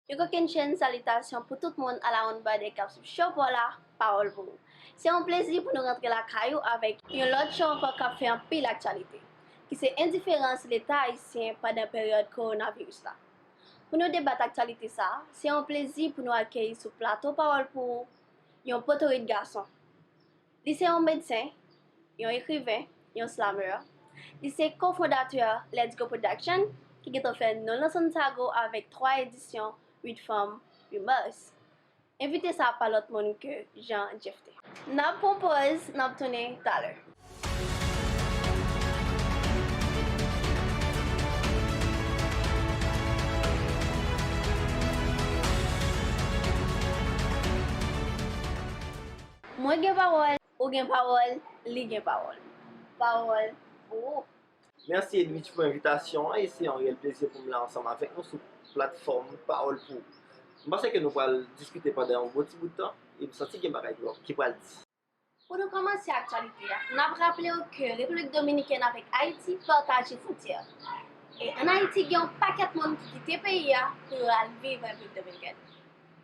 Yon kokenn chenn salitasyon pou tout moun alawonnbadè k ap swiv Show paw la, Pawòl pou ou. Se yon plezi pou nou rantre lakay ou avèk yon lòt show ankò k ap fè anpil aktyalite, ki se endiferans Leta ayisyen pandan peryòd kowonaviris la. Pou nou debat aktyalite sa a, se yon plezi pou nou akeyi sou plato Pawòl pou ou, yon potorit gason. Li se yon medsen, yon ekriven, yon slameur. Li se ko-fondatè Let's Go Production ki gentan fè nonl nan Santago avèk 3 edisyon 8 fanm 8 mas. Envite sa pa lòt moun ke Jean Jephté. Nap pran pòz, nap tounen talè. Mwen gen pawòl, ou gen pawòl, li gen pawòl. Pawòl pou ou! Mèsi Edwidge pou envitasyon an e se yon reyèl plezi pou m la ansanm avèk nou sou platfòm Pawòl pou ou. M panse ke nou pral diskite pandan yon bon ti bout tan e m santi gen bagay ki pral di. Pou nou kòmanse aktyalite a, n ap raple ou ke Repiblik Dominikèn avèk Ayiti pataje fwontyè. E ann Ayiti gen yon pakèt moun ki kite peyi a pou yo al viv Repiblik Dominikèn.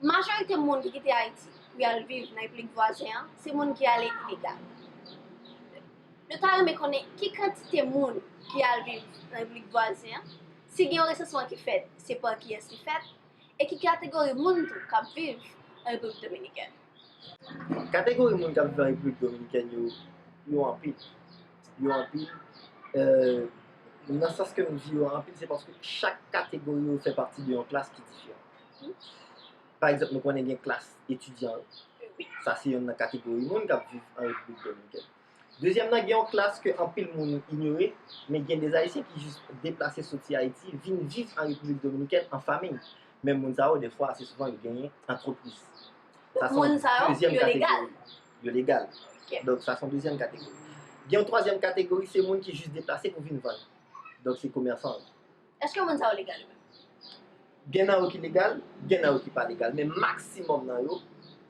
Majorite moun ki kite Ayiti pou y al viv nan repiblik vwazen an se moun ki ale ilegal. Nou ta renmen konnen ki kantite moun ki al viv nan repiblik vwazen an, si gen yon resansman ki fèt se pa kiyès li fèt e ki kategori moun tou k ap viv an Repiblik Dominikèn. Kategori moun k ap viv an Repiblik Dominikèn yo, yo anpil. Yo anpil nan sans ke m di yo anpil se paske chak kategori yo fè pati de yon klas ki diferan. Pa egzanp, nou konnen gen klas etidyan yo. Sa se yonn nan kategori moun k ap viv an Repiblik Dominikèn. Dezyèm nan, gen yon klas ke anpil moun inyore, men gen de Ayisyen ki jis deplase soti Ayiti vin viv an Repiblik Dominikèn an famiy. Men moun sa yo, defwa, ase souvan yo genyen antrepriz. Sa se yon dezyèm kategori. Yo legal. Donk, sa se yon dezyèm kategori. Gen yon twazyèm kategori, se moun ki jis deplase pou vin vann. Donk, se komèsan yo. Eske moun sa yo legal yo menm? Gen nan yo ki legal, gen nan yo ki pa legal, men maksimòm nan yo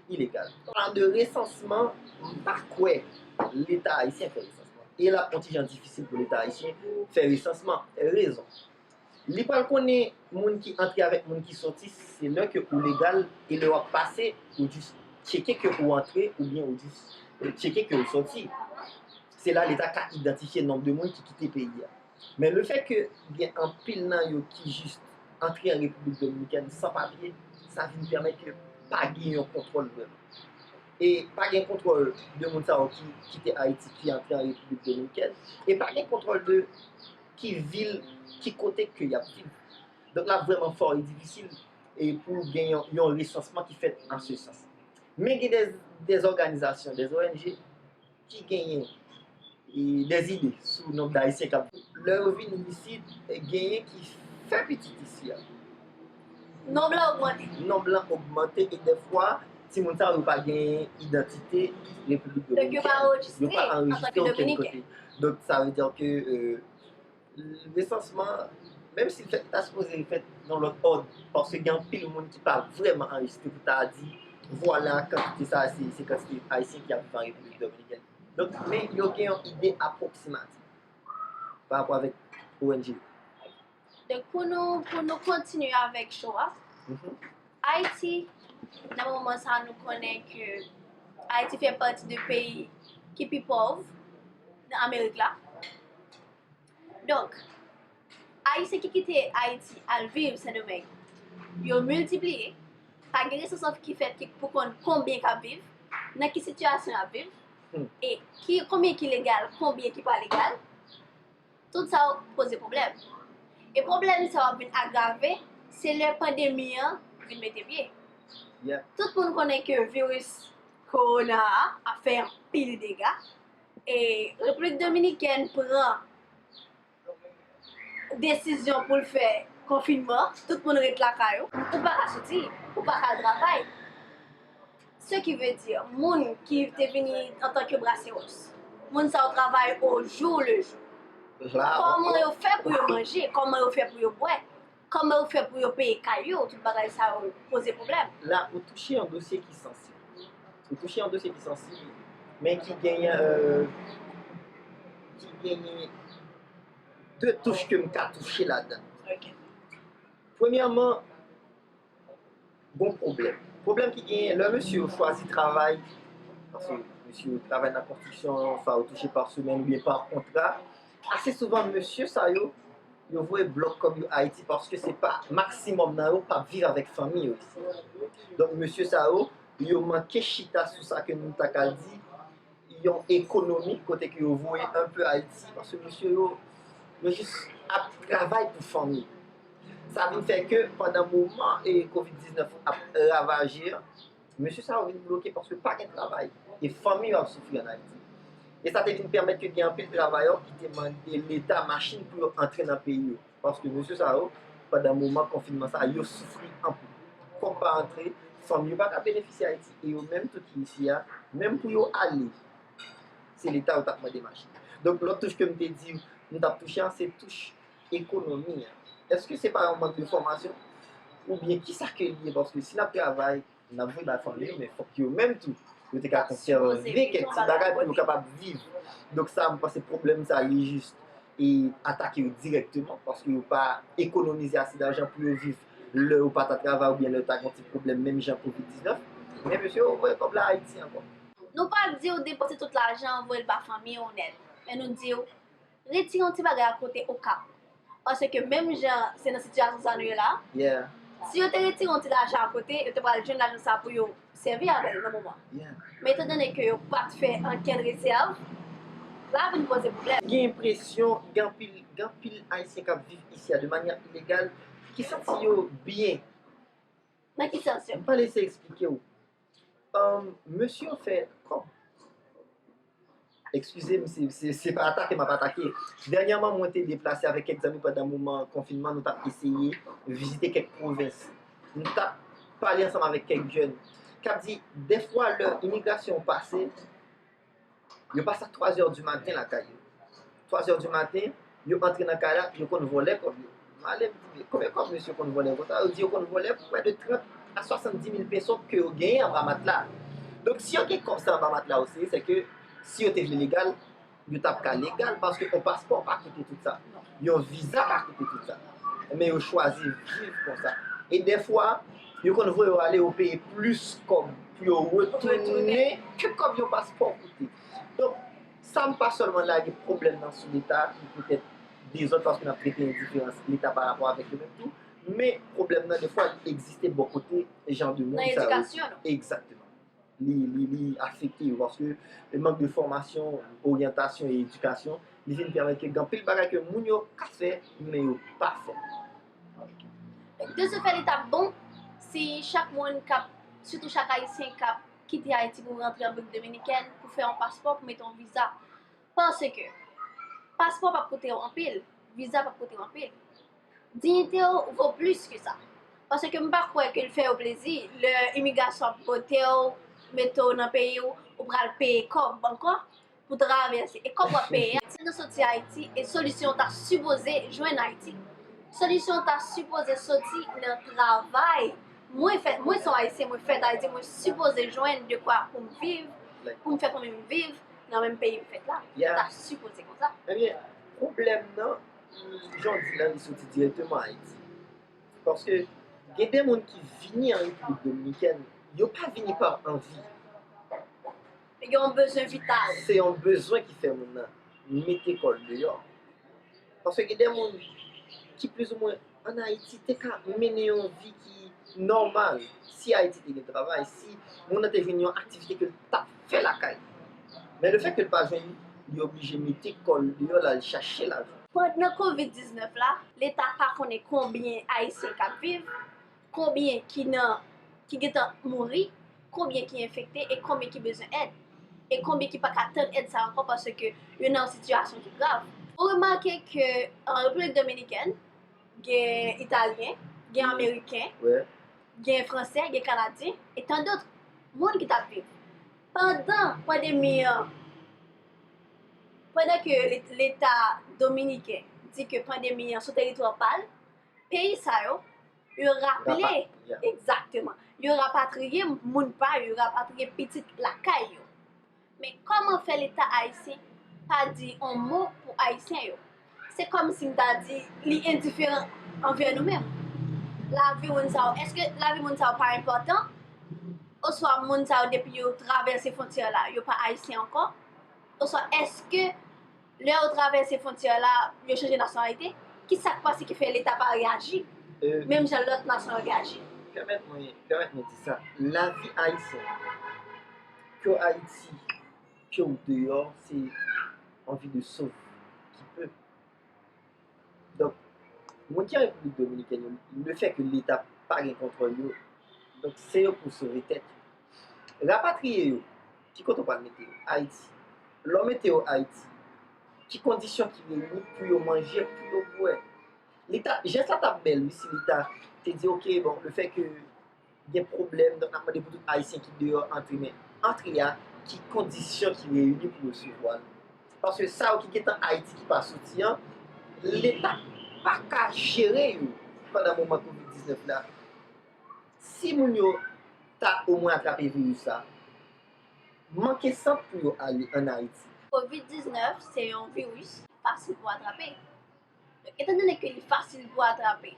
ilegal. An de resansman, m pa kwè Leta ayisyen fè resansman. E l ap yon ti jan difisil pou Leta ayisyen fè resansman. Rezon, Li pral konnen moun ki antre avèk moun ki soti, se lè ke ou legal e lè w ap pase, ou jis tcheke ke ou antre oubyen ou jis tcheke ke ou soti. Se la Leta ka idantifye nonb de moun ki kite peyi a. Men le fèt ke gen anpil nan yo ki jis antre an Repiblik Dominikèn san papye, sa vin pèmèt ke pa gen yon kontwòl vrèman. E pa gen kontwòl de moun sa yo ki kite Ayiti, ki antre an Repiblik Dominikèn, e pa gen kontwòl de ki vil, ki kote ke y ap viv. Donk l ap vrèman fò e difisil pou gen yon resansman ki fèt an se sans. Men gen dè òganizasyon, dè ONG. ki genyen des idées sou nomb d'Ayisyen kap vini. Lè yo vini isit, genyen ki fè pitit isi a. Nomb la ogmante. Nomb la ogmante e dèfwa timoun sa yo pa genyen idantite Repiblik Dominikèn. Donk yo pa anrejistre okenn kote. Donk yo pa anrejistre okenn kote. Donk sa vle dire ke. Resansman, menm si l fèt, ta sipoze fèt nan lòt òd, paske gen anpil moun ki pa vrèman anrejistre pou ta di, vwala kantite sa a se kantite Ayisyen ki ap viv an Repiblik Dominikèn. Donk, men yo gen yon ide apwoksimatif pa rapò avèk ong yo. Donk, pou nou kontinye avèk show a. Ayiti, nan moman sa a nou konnen ke Ayiti fè pati de peyi ki pi pòv nan Amerik la. Donk, Ayisyen ki kite Ayiti al viv Sendomeng, yo miltipliye, pa gen resansman ki fèt ki pou konn konbyen k ap viv, nan ki sitiyasyon y ap viv, e ki konbyen ki legal, konbyen ki pa legal. Tout sa yo poze pwoblèm. E pwoblèm sa yo ap vin agrave se lè pandemi an vin mete pye. Tout moun konnen ke viris kowona a ap fè anpil dega. E Repiblik Dominikèn pran desizyon pou l fè konfinman, tout moun ret lakay ou. Ou pa ka soti, ou pa ka al travay. Se ki vle di, moun ki te vini antanke braseros. Moun sa yo travay ojou lejou. Kòman yo fè pou yo manje, kòman yo fè pou yo bwè, kòman yo fè pou yo peye kay yo, tout bagay sa yo poze pwoblèm. La ou touche yon dosye ki sansib. Ou touche yon dosye ki sansib, men ki genyen, ki genyen 2 touch ke m ka touche ladan. Ok. Premyèman, Gon pwoblèm. Pwoblèm ki genyen lè mesye yo chwazi travay, paske mesye yo travay nan konstriksyon, sa yo touche pa semèn oubyen pa kontra, ase souvan mesye sa yo, yo voye blòk kòb yo Ayiti paske se pa maksimòm nan yo pa viv avèk fanmi yo isit. Donk mesye sa yo, yo manke chita sou sa ke nou ta ka di, yon ekonomi kote ke yo voye anpe Ayiti paske mesye yo yo jis ap travay pou fanmi sa vin fè ke pandan moman e kovid 19 ap ravaje an mesye sa yo vin bloke paske pa gen travay e fanmi yo ap soufri an Ayiti e sa te vin pèmèt ke gen anpil travayò ki te mande leta machin pou yo antre nan peyi yo. Paske mesye sa yo, pandan moman konfinman sa, yo soufri anpil. Kòb pa antre, fanm yo pa ka benefisye Ayiti e yo menm tou ki isi a, menm pou yo ale, se Leta yo t ap mande machin. Donk lòt touche ke m te di nou t ap touche an, se touche ekonomi an. Èske se pa yon mank de fòmasyon? Oubyen kisa ke li ye? Paske si n ap travay, N ap vle bay fanmi yo, men fòk yo menm tou, yo te ka konsève kèk ti bagay pou yo kapab viv. Donk sa, mwen panse pwoblèm sa li jis e atake yo dirèkteman, paske yo pa ekonomize ase dajan pou yo viv lè yo pa ta travay oubyen lè yo ta gen yon ti pwoblèm menm jan kovid 19. Men mesye yo voye kòb la Ayiti ankò. Nou pa di w depanse tout lajan an voye l ba fanmi w nèt, men nou di w. Retire yon ti bagay a kote okap paske menm jan se nan sitiyasyon sa nou ye la si yo te retire yon ti lajan a kote yo te pral jwenn lajan sa pou yo sèvi avèl nan moman men etan done ke yo pat fè ankenn rezèv la vin poze pwoblèm. Gen enpresyon gen anpil gen anpil ayisyen kap viv isi a de manyè ilegal ki santi yo byen. Nan ki sans yo? M pale se eksplike w. Mesye yo fè kòb. Ekskize m, se pa atake m ap atake. Dènyèman mwen te deplase avèk kèk zanmi pandan moman konfinman, nou t ap eseye vizite kèk pwovens. Nou t ap pale ansanm avèk kèk jèn k ap di dèfwa lè imigrasyon pase, Yo pase ak 3 zè di maten lakay yo. 3 zè di maten, yo antre nan kay la, yo konn vòlè kòb yo. M ale m di, konbyen kòb mesye konn vòlè konsa? Yo di yo konn vòlè prè de 30 a 70 mil peso ke yo genyen anba matla. Donk si yo gen kòb sa anba matla yo, se sèke si yo te vle legal, yo t ap ka legal paske yon paspò pa koute tout sa. Yon viza pa koute tout sa. Men yo chwazi viv konsa. E dèfwa, yo konn voye yo ale yo peye plis kòb pou yo retounen ke kòb yon paspò koute. Donk, sa m pa sèlman lage pwoblèm nan sou Leta ki poutèt dezòd paske n ap trete endiferans Leta pa rapò avèk yo menm tou, men pwoblèm nan dèfwa li egziste bò kote jan de moun sa yo. Nan edikasyon nou. Egzakteman. li afekte yo paske mank de fòmasyon, oryantasyon e edikasyon li vin pèmèt ke gen anpil bagay ke moun yo ka fè men yo pa fè. De se fè li ta bon si chak moun kap, sitou chak ayisyen kap kite Ayiti pou rantre Repiblik Dominikèn pou fè yon paspò, pou mete yon viza. Paske paspò pap koute yo anpil, viza pap koute yo anpil. Dignité w vo plis ke sa. Paske m pa kwè ke l fè yo plezi lè imigrasyon ap pote w, mete w nan peyi w, ou pral peye kòb ankò pou travèse. E kòb w ap peye a, si nou soti Ayiti e solisyon an ta sipoze jwenn Ayiti. Solisyon an ta sipoze soti nan travay. Mwen fèt, mwen se yon Ayisyen, mwen fèt Ayiti, mwen sipoze jwenn dekwa pou m viv, pou m fè fanmi m viv nan menm peyi m fèt la. Sa ta sipoze konsa. Ebyen, pwoblèm nan, Jan w di la, li soti dirèkteman Ayiti. Paske gen de moun ki vini an Repiblik Dominikèn, yo pa vini pa anvi. Yo gen yon bezwen vital. Se yon bezwen ki fè moun nan mete kò l deyò. Paske gen de moun ki plizoumwen. an Ayiti te ka mennen yon vi ki nòmal, si Ayiti te gen travay, si moun nan te jwenn yon aktivite ke l t ap fè lakay li. Men le fèt ke l pa jwenn li, li oblije mete kò l deyò l al chache lajan. Pandan kovid 19 la, leta pa konnen konbyen Ayisyen k ap viv, konbyen ki nan ki gen tan mouri, Konbyen ki enfekte e konbyen ki bezwen èd? E konbyen ki pa ka tann èd sa ankò paske yo nan yon sitiyasyon ki grav? Ou remake ke an Repiblik Dominikèn, gen Italyen, gen Ameriken, gen Franse, gen Kanadyen, e tan dotr, moun ki t ap viv. Pandan pandemi an, pandan ke Leta Dominiken di ke pandemi an sou teritwa pa l, peyi sa yo, Yo raple, egzakteman, yo rapatriye moun pa yo, yo rapatriye pitit lakay yo. Men kòman fè leta ayisyen pa di yon mo pou ayisyen yo? Se kòm si m ta di li endiferan anvè nou menm. Lavi moun sa yo, èske lavi moun sa yo pa enpòtan? Oswa moun sa yo depi yo travèse fwontyè la, yo pa ayisyen ankò? Oswa èske. Lè yo travèse fwontyè la, yo chanje nasyonalite? Ki sa k pase ki fè Leta pa reyaji menm jan lòt nasyon yo reyaji? Pèmèt mwen, pèmèt mwen di sa, lavi Ayisyen, ke w Ayiti, ke w deyò, se anvi de sove ki pe Donk, moun ki an Repiblik Dominikèn yo, lefèke Leta pa gen kontwòl yo, donk se yo pou sove tèt yo. Rapatriye yo, ki kote ou pral mete yo? Ayiti. Lè w mete yo Ayiti, ki kondisyon ki reyini pou yo manje, pou yo bwè? Li ta, jès la ta bèl wi si Leta te di ok, bon, lefèke. Gen pwoblèm donk n ap mande pou tout Ayisyen ki deyò antre men antre a ki kondisyon ki reyini pou resevwa l paske sa yo ki gentan Ayiti ki pa soti an leta pa ka jere yo pandan moman kovid 19 la si moun yo ta omwen atrape viris la manke sant pou yo ale an Ayiti. Kovid 19 se yon viris ki fasil pou atrape donk etandone ke li fasil pou atrape.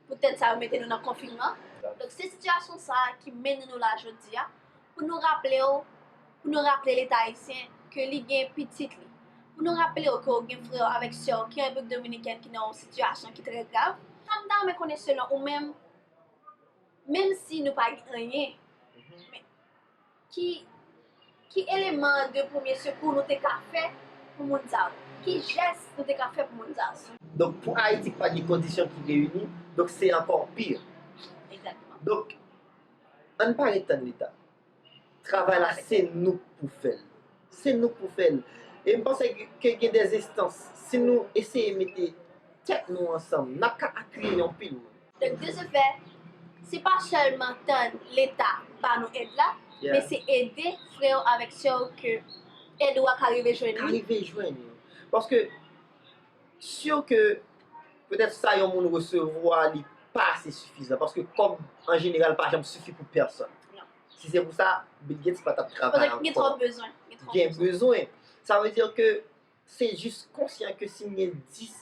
Pou tèt sa yo mete nou nan konfinman. Donk se sitiyasyon sa a ki mennen nou la jodi a pou nou raple w, pou nou raple Leta ayisyen ke li gen pitit li. Pou nou raple w ke w gen frè w avèk sè w ki an Repiblik Dominikèn ki nan yon sitiyasyon ki trè grav. Sa m ta renmen konnen selon ou menm, menm si nou pa gen anyen, men. Ki Ki eleman de premye sekou nou te ka fè pou moun sa yo? Ki jès nou te ka fè pou moun sa yo? Donk pou Ayiti ki pa gen kondisyon ki reyini, donk se ankò pi. Egzakteman. Donk, an n pa ret tann Leta. Travay la se nou k pou fè l. Se nou k pou fè l. E m panse ke gen dè enstans, si nou eseye mete tèt nou ansanm, n ap ka apiye anpil moun. Donk de se fè, se pa sèlman tann leta ba nou èd la, men se ede frè yo avèk sè yo ke èd ou a ka rive jwenn yo. Ka rive jwenn yo. Paske, sure ke petèt sa yon moun resevwa li pa ase sifizan. Paske kòb an jeneral pa janm sifi pou pèsòn. Non. Si se pou sa, Bill Gates pa t ap travay ankò. Gen twòp bezwen. Gen twòp bezwen. Gen bezwen. Sa vle di ke Se jis konsyan ke si m gen 10,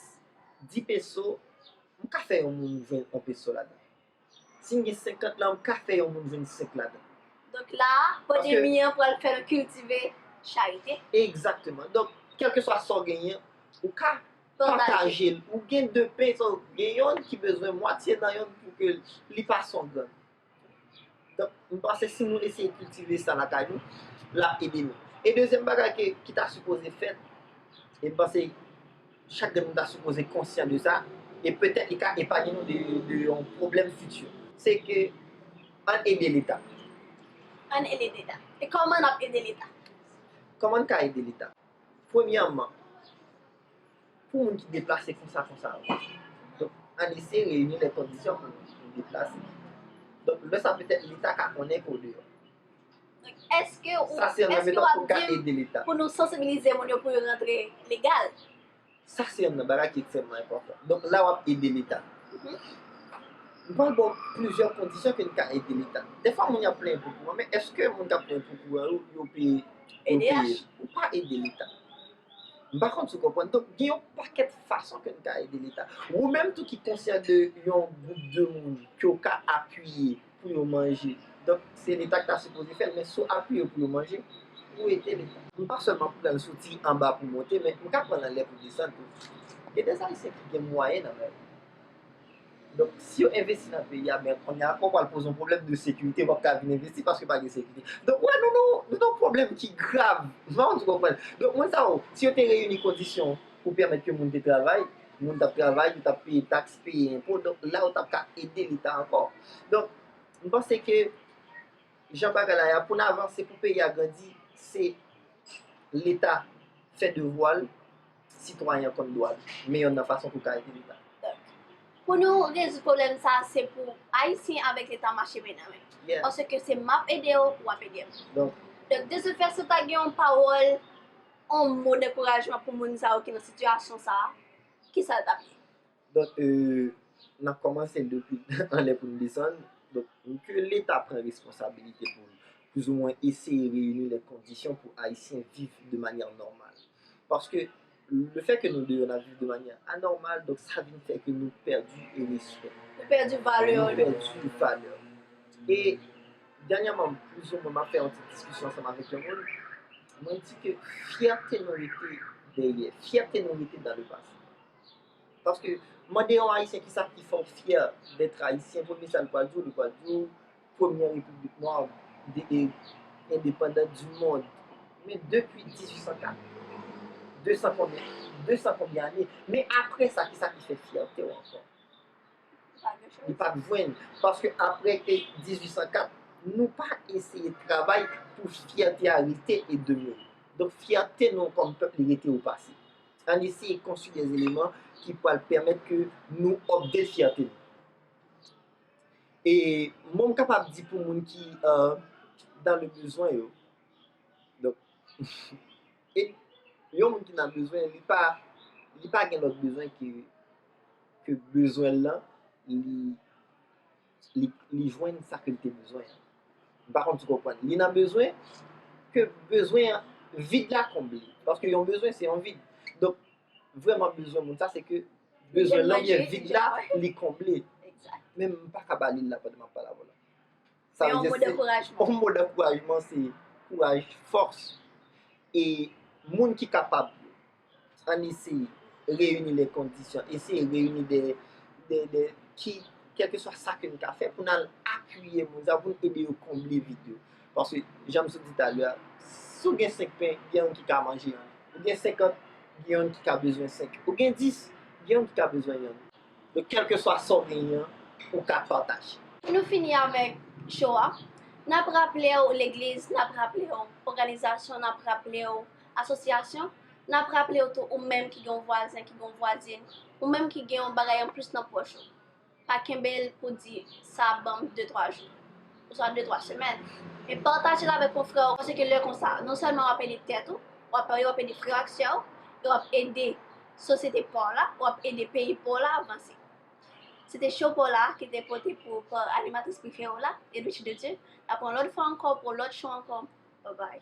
di peso, m ka fè yon moun jwenn on peso ladan. Si m gen 50 lan, m ka fè yon moun jwenn 5 ladan. Donk la a, pandemi an pral fè l kiltive charite. Egzakteman. Donk, kèlkeswa sa w genyen, ou ka pataje l. Ou gen 2 pen, gen yonn ki bezwen mwatye nan yonn pou ke li pa songàn. Donk, m panse si nou eseye kiltive sa lakay nou, l ap ede nou. E dezyèm bagay ke, ki ta sipoze fèt, e m panse chak de nou ta sipoze konsyan de sa, e petèt li ka epanye nou de yon pwoblèm fiti, se ke ann ede Leta. Ann ede Leta. E kòman n ap ede Leta? Kòman n ka ede Leta? Premyèman. Pou moun ki deplase konsa konsa yo. Donk ann eseye reyini lè kondisyon pou nou deplase. Donk lè sa petèt leta ka konnen ke w deyò. Eske ou ap di m pou nou sansibilize moun yo pou yo rantre legal? Sa se yonn nan bagay ki ekstrèmman enpòtan. Donk la w ap ede leta. M pral ba w plizyè kondisyon ke n ka ede leta. Dèfwa moun yo ap plenyen pou kouran men eske moun k ap plenyen pou kouran yo yo peye? Yo peye. Ou pa ede leta. M pa konn si w konprann. Donk, gen yon pakèt fason ke n ka ede Leta. Wou menm tou ki konsyan de yon gwoup de moun ke w ka apiye pou yo manje. Donk, se Leta ki ta sipoze fè l, men si w apiye yo pou yo manje, ou ede Leta. M pa sèlman pran l sou ti anba pou monte, men m ka pran l anlè pou desann tou. Gen dèz Ayisyen ki gen mwayen nan men yo. Donk si yo envesti nan peyi a men konnya ou pral poze yon pwoblèm de sekirite ou pap ka vin envesti paske pa gen sekirite. Donk ou wè nou nan yon pwoblèm ki grav. M pa konn si w konprann. Donk moun sa yo, si yo te reyini kondisyon pou pèmèt ke moun te travay, moun t ap travay, yo t ap peye taks, peye enpo, donk la yo t ap ka ede leta ankò. Donk m panse ke jan bagay la ye a pou n avanse, pou peyi a grandi se leta fè devwa l Sitwayen an konn dwa li, men yonn nan fason pou ka ede leta. Pou nou rezoud pwoblèm sa se pou Ayisyen avèk leta mache men nan men. Paske se map ede w, wap ede m. Donk de se fè si w ta gen yon pawòl, yon mo dankourajman pou moun sa yo ki nan sitiyasyon sa, kisa l tap ye? Donk nap kòmanse depi anlè pou nou desann. Donk ke leta pran responsabilite pou li. Plouzouwen eseye reyini lè kondisyon pou ayisyen viv de manyè nòmal. Paske le fè ke nou deyò nap viv de manyè anòmal donk sa vin fè ke nou pèdi respè. Nou pèdi valè nou. Nou pèdi valè nou. E dènyèman plouzoumen map fè yon ti diskisyon ansanm avèk yon moun. Mwen di ke fyète nou rete dèyè. Fyète nou rete dan le pase. Paske, mande yon Ayisyen ki sa ki fè w fyè dèt Ayisyen, premye sa li pral di w, li pral di w premyè repiblik nwa e endepandan di mond. Men depi 1804, de san konbyen, de san konbyen ane, men apre sa ki sa ki fè fyète w ankò? Li pa jwenn. Paske apre 1804, nou pa eseye travay pou fyète a rete e demere. Donk fyète nou kòm pèp li rete o pase. Ann eseye konstwi de eleman ki pral pèmèt ke nou update fyète nou. E mwen m kapab di pou moun ki dan le bezwen yo, e yon moun ki nan bezwen li pa li pa gen lòt bezwen ke bezwen l lan li li jwenn sa ke li te bezwen an. M pa konn si w konprann. Li nan bezwen, ke bezwen an, vid la konble. Paske yon bezwen se yon vid. Donk, vreman bezwen moun sa se ke bezwen lan oubyen vid la li konble. Men m pa ka ba li l la pandan m ap pale avè w la. Se yon mo dankourajman. Yon mo dankourajman se kouraj, fòs. E moun ki kapab, Ann eseye reyini de kondisyon, eseye reyini de, de, de, ki, kèlkeswa sa ke n ka fè pou n al apiye moun sa yo, pou n ede yo konble vid yo. Paske, jan m sot di talè a, si w gen senk pen, gen youn ki ka manje youn. Ou gen senkant, gen youn ki ka bezwen senk. Ou gen dis, gen youn ki ka bezwen youn. Donk, kèlkeswa sa w genyen an, ou ka pataje. Pou nou fini avèk show a, n ap raple w legliz, n ap raple w òganizasyon, n ap raple w Asosyasyon, N ap raple w tou ou menm ki gen yon vwazen, ki gen yon vwazin, ou menm ki gen yon bagay anplis nan pòch ou, pa kenbe l pou w di sa ap ban m de twa jou, oswa de twa semèn, men pataje l avèk konfrè w, paske lè konsa, non sèlman w ap ede tèt ou, w ap ede frè w ak sè w, e w ap ede sosyete pa w la, w ap ede peyi pa w la vanse. Se te Show pa w la ki te pote pou ou pa animatris prefere w la, Edwidge Dedieu. N ap wè w yon lòt fwa ankò pou yon lòt show ankò. Babay.